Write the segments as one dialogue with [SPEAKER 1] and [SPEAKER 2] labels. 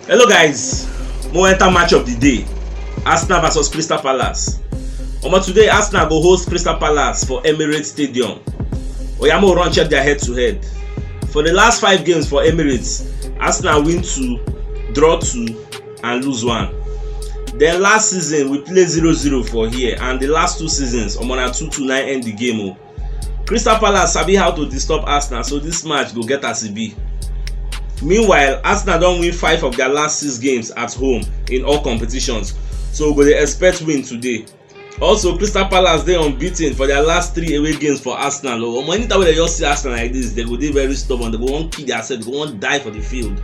[SPEAKER 1] hello guys mo enter match of the day arsenal vs crystal palace omo today arsenal go host crystal palace for emirates stadium oya mo run check their head to head for the last five games for emirates arsenal win two draw two and lose one then last season we play zero zero for here and the last two seasons omo na two two na end the game o. Oh. Crystal Palace sabi how to disturb Arsenal so this match go get as e be. Meanwhile, Arsenal don win five of their last six games at home in all competitions so we go dey expect win today. Also, Crystal Palace dey unbeaten for their last three away games for Arsenal o. Oh. Omo anytime wey dem just see Arsenal like this, dem go dey very stubborn, dem go wan kill their self, dem go wan die for the field.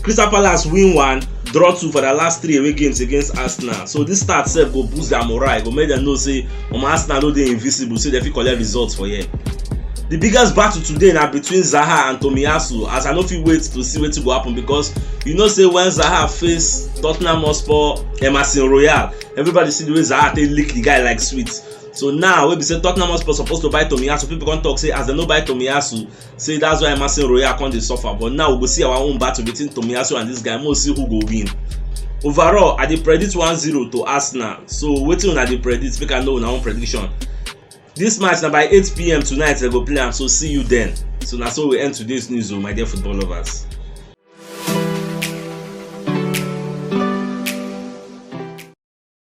[SPEAKER 1] Crystal Palace win one, draw two for their last three away games against Arsenal. So this start sef go boost their morale, go make dem know say omo arsenal no dey invisible say dem fit collect results for here di biggest battle today na between zaha and tomiyasu as i no fit wait to see wetin go happen because you know say when zaha face tottenham hotspur emerson royal everybody see the way zaha take lick the guy like sweet so now wey be say tottenham hotspur suppose to buy tomiyasu people come talk say as dem no buy tomiyasu say that's why Emerson Royal come dey suffer but now we go see our own battle between Tomiyasu and this guy make we see who go win overall I dey predict 1-0 to Arsenal so wetin una dey predict make I know una own prediction this match na by 8pm tonight dem go play am so see you then so na so we end today's news o oh, my dear football lovers.